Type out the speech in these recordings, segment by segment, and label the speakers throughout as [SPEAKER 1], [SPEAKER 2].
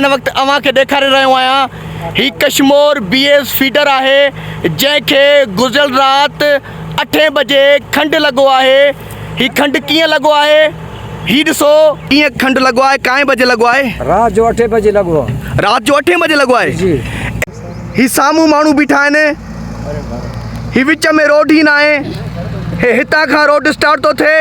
[SPEAKER 1] هن وقت اوهان کي ڏيکاري رهيو آهيان هي ڪشمور بي ايس فيڊر آهي جنهن کي گذريل رات اٺين بجي کنڊ لڳو آهي هي کنڊ ڪيئن لڳو آهي هي ڏسو ڪيئن کنڊ لڳو آهي ڪائين بجي لڳو آهي رات جو اٺين بجي
[SPEAKER 2] لڳو آهي رات جو اٺين بجي لڳو
[SPEAKER 1] آهي جي
[SPEAKER 2] هي
[SPEAKER 1] سامهون ماڻهو بيٺا آهن هي وچ ۾ روڊ هي ناهي هي هتان کان روڊ اسٽارٽ ٿو ٿئي.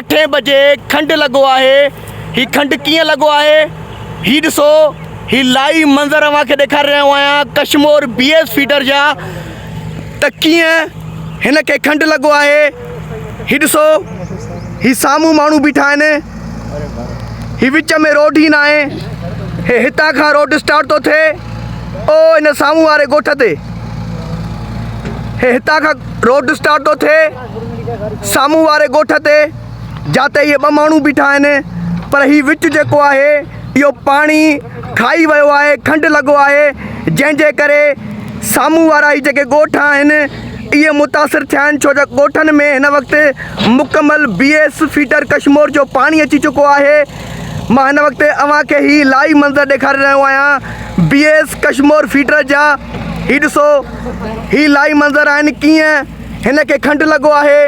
[SPEAKER 1] اٺين بجي کنڊ لڳو آهي هي کنڊ ڪيئن لڳو آهي هي ڏسو هي لائيو منظر اوهان کي ڏيکاري رهيو آهيان ڪشمور بي ايس فيڊر جا ته ڪيئن هن کي کنڊ لڳو آهي هي ڏسو هي سامهون ماڻهو بيٺا آهن هي وچ ۾ روڊ هي ناهي هي هتان کان روڊ اسٽارٽ ٿو ٿئي او هن سامهون واري ڳوٺ تي هي هتان کان روڊ اسٽارٽ ٿو ٿئي سامهون واري ڳوٺ تي جاتي اهي ٻه ماڻهو بيٺا آهن پر هي وچ جيڪو آهي اهو پاڻي کائي ويو آهي کنڊ لڳو آهي جنهن جي ڪري سامهون وارا هي جيڪي ڳوٺ آهن اهي متاثر ٿيا آهن ڇو جو ڳوٺن ۾ هن وقت مڪمل بي ايس فيڊر ڪشمور جو پاڻي اچي چڪو آهي مان هن وقت اوهان کي هي لائيو منظر ڏيکاري رهيو آهيان بي ايس ڪشمور فيڊر جا هي ڏسو هي لائيو منظر آهن ڪيئن هن کي کنڊ لڳو آهي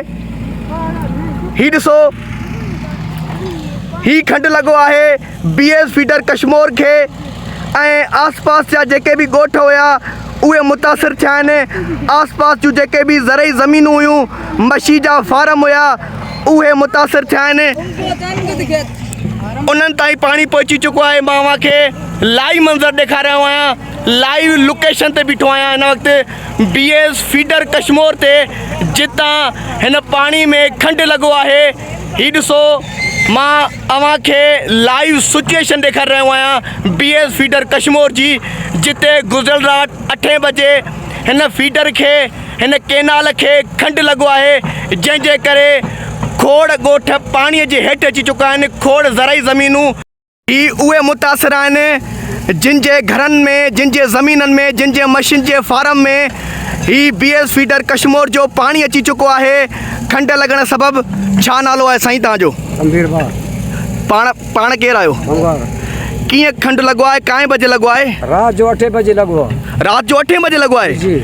[SPEAKER 1] هي ڏسو هي کنڊ لڳو آهي بي ايس فيڊر ڪشمور کي ۽ آس پاس جا جيڪي به ڳوٺ هيا اهي متاثر ٿيا آهن آس پاس جون جيڪي به زرعي زمينون هيون مڇي جا فارم هيا اهي متاثر ٿيا آهن انهن تائين پاڻي پهچي چڪو آهي مان اوهان کي لائيو منظر ڏيکاري رهيو آهيان لائيو لوڪيشن تي بيٺو آهيان هن وقت بي ايس فيڊر ڪشمور تي جتان هن پاڻي ۾ کنڊ لڳو آهي هي ڏسو مان اوهان کي لائيو سچوئيشن ڏيکاري رهيو آهيان بي ايس فيڊر ڪشمور جي جتي گذريل رات اٺين بجي هن فيڊر کي هن ڪينال کي کنڊ لڳو آهي جنهن جي ڪري کوڙ ڳوٺ پاڻي جي هيٺ اچي چڪا آهن کوڙ زرعي زمينون هي اهي متاثر آهن جن جي گهرن ۾ جن جي زمينن ۾ جن جي مشين جي فارم ۾ هي بي ايس فيڊر ڪشمور جو پاڻي اچي چڪو آهي کنڊ لڳڻ سبب ڇا نالو آهي سائين تان جو پاڻ پاڻ ڪير آهيو ڪيئن کنڊ لڳو آهي ڪائين بجي لڳو آهي رات جو اٺين بجي
[SPEAKER 2] لڳو آهي رات جو اٺين بجي لڳو
[SPEAKER 1] آهي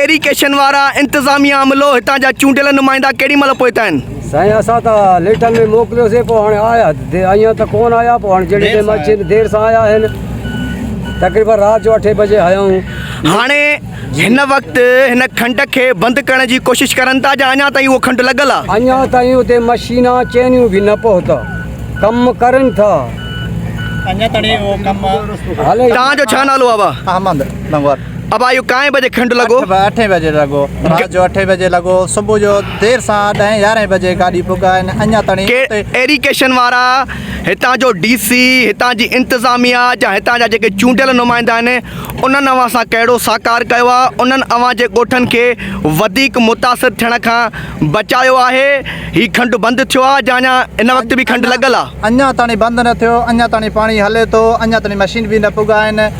[SPEAKER 1] ايريڪيشن
[SPEAKER 2] وارا
[SPEAKER 1] انتظاميا عملو هتان جا چونڊيل نمائندا ڪيڏي مهل پهتا آهن سائين اسان ته
[SPEAKER 2] ليٽن ۾ موڪليو سي پوء هاڻي آيا اڃان ته ڪونه آيا پوء هاڻي جهڙي ٽيم اچين دير سان آيا آهن تقريبن رات جو اٺين بجي آيا آهيون. هاڻي هن وقت
[SPEAKER 1] هن کنڊ کي بند ڪرڻ جي ڪوشش ڪرن ٿا جا اڃان تائين اهو کنڊ لڳل آهي. اڃان تائين اتي
[SPEAKER 2] مشينان چينيون به نه پهتا ڪم ڪرن ٿا اڃان
[SPEAKER 3] تائين اهو ڪم هلي. توهان جو
[SPEAKER 2] ڇا نالو آهي
[SPEAKER 1] ڀا؟ احمد لنگور.
[SPEAKER 3] ابا اهو ڪائين بجي
[SPEAKER 1] کنڊ لڳو؟ اٺ اٺين بجي لڳو.
[SPEAKER 3] رات جو اٺين بجي لڳو. صبح جو دير سان ڏهين يارهين بجي گاڏي پڳا آهن اڃا تڻي ڪي اتي. ايريڪيشن وارا،
[SPEAKER 1] هتان جو ڊي سي، هتان جي انتظاميا جا هتان جا جيڪي چونڊيل نمائندا آهن انهن اوهان سان ڪهڙو ساڪار ڪيو آهي؟ انهن اوهان جي ڳوٺن کي وڌيڪ متاثر ٿيڻ کان بچايو آهي؟ هي کنڊ بند ٿيو آهي جا اڃا هن وقت به کنڊ لڳل آهي؟ اڃا تڻي بند نه
[SPEAKER 3] ٿيو. اڃا تڻي پاڻي هلي ٿو. اڃا تڻي مشين به نه پڳا آهن.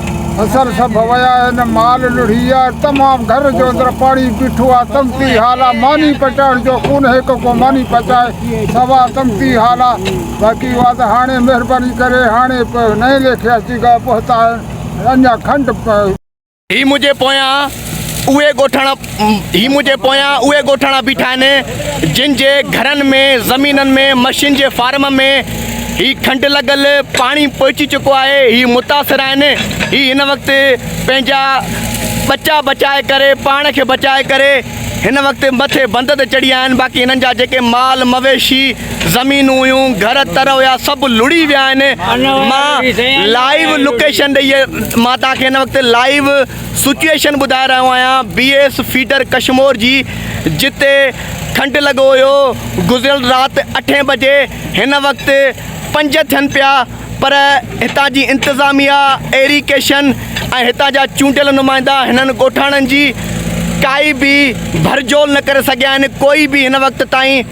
[SPEAKER 4] اثر سڀ ويا آهن، مال لڙهي ويو آهي، تمام گهر جو اندر پاڻي بيٺو آهي، تنگتي حال آهي، ماني پچائڻ جو ڪونه هڪ ڪو ماني پچائي، سوا تنگتي حال آهي، باقي اها ته هاڻي مهرباني ڪري هاڻي نئين ليکي اچي ڳالهه پهتا آهن، اڃا کنڊ. هي منهنجي
[SPEAKER 1] پويان اهي ڳوٺاڻا هي منهنجي پويان اهي ڳوٺاڻا بيٺا آهن جن جي گهرن ۾ زمينن ۾ مشين جي فارم ۾ هي کنڊ لڳل پاڻي پهچي چڪو آهي هي متاثر آهن هي هن وقت پنهنجا ٻچا بچائي ڪري پاڻ کي بچائي ڪري هن وقت مٿي بند تي چڙهي آهن باقي هنن جا جيڪي مال مويشي زمينون هيون گهر تر هيا سڀ لڙي ويا آهن مان لائيو لوڪيشن ڏئي مان توهان کي هن وقت لائيو سچوئيشن ٻڌائي رهيو آهيان بي ايس فيڊر ڪشمور جي جتي ٺنڊ لڳو هيو گذريل رات اٺين بجي هن وقت پنج ٿين پيا پر هتان جي انتظاميا ايري ڪيشن ۽ هتان جا چونڊيل نمائندا هنن ڳوٺاڻن جي ڪائي به ڀرجول نه ڪري سگهيا آهن ڪوئي به هن وقت تائين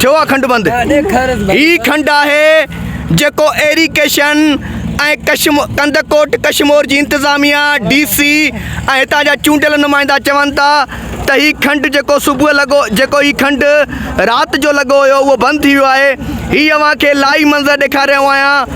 [SPEAKER 1] ٿيو آهي کنڊ بند هي کنڊ آهي جيڪو ايري ڪيشن ۽ ڪشم ڪنڌڪوٽ ڪشمور جي انتظاميا ڊي سي ۽ هتان جا چونڊيل نمائندا چون ٿا ته هي کنڊ جيڪو صبح لڳو جيڪو هي کنڊ رات جو لڳو هيو اهو بند ٿي ويو آهي هي اوهان کي لائي منظر ڏيکاري رهيو آهيان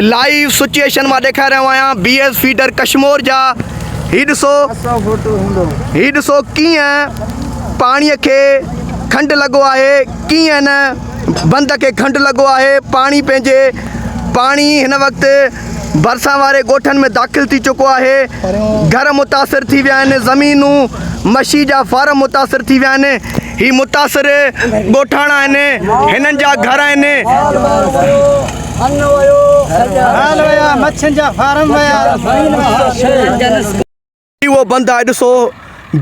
[SPEAKER 1] لائيو سچوئيشن مان ڏيکاري رهيو آهيان بي ايس فيڊر ڪشمور جا هي ڏسو هي ڏسو ڪيئن پاڻي کي کنڊ لڳو آهي ڪيئن هن بند کي کنڊ لڳو آهي پاڻي پنهنجي پاڻي هن وقت ڀرسان واري ڳوٺن ۾ داخل ٿي چڪو آهي گهر متاثر ٿي ويا آهن زمينون مشي جا فارم متاثر ٿي ويا آهن هي متاثر ڳوٺاڻا آهن، هنن جا گهر آهن. هي اهو بند آهي ڏسو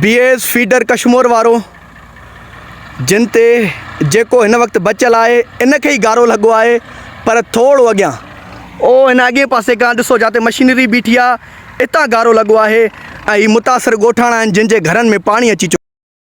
[SPEAKER 1] بي ايس فيڊر ڪشمور وارو جن تي جيڪو هن وقت بچيل آهي ان کي ئي گارو لڳو آهي پر ٿورو اڳيان اهو هن اڳئين پاسي کان ڏسو جاتي مشينري بيٺي آهي اتان گارو لڳو آهي ۽ هي متاثر ڳوٺاڻا آهن جن جي گهرن ۾ پاڻي اچي چڪو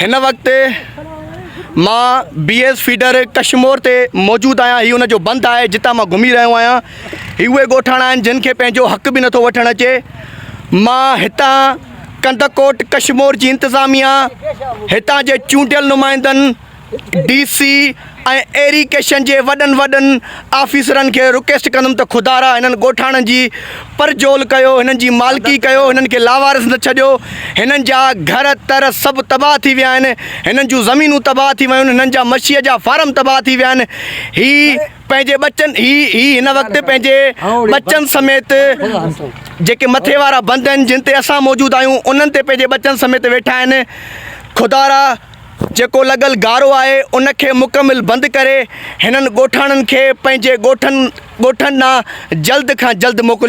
[SPEAKER 1] هن وقت مان بي ايس فيڊر ڪشمور تي موجود آهيان هي ان جو بند آهي جتان مان گهمي رهيو آهيان هي اهي ڳوٺاڻا آهن جن کي پنهنجو حق به نٿو وٺڻ اچي مان هتان ڪنڌڪوٽ ڪشمور جي انتظاميا هتان جي چونڊيل نمائندن ڊي سي ۽ ايريڪيشن جي وڏن وڏن آفيسرن کي رڪيسٽ ڪندم ته خدارا هنن ڳوٺاڻن جي پرجول ڪيو هنن جي مالڪي ڪيو هنن کي لاوارث نه ڇڏيو هنن جا گهر تر سڀ تباهه ٿي ويا آهن هنن جون زمينون تباهه ٿي ويون هنن جا مڇيء جا فارم تباهه ٿي ويا آهن هي پنهنجي ٻچن هي هي هن وقت پنهنجي ٻچن سميت جيڪي مٿي وارا بند آهن جن تي اسان موجود آهيون انهن تي پنهنجي ٻچن سميت ويٺا آهن خدارا جيڪو لڳل گارو آهي ان کي مڪمل بند ڪري هنن ڳوٺاڻن کي پنهنجي ڳوٺن ڳوٺن ڏانهن جلد کان جلد موڪليو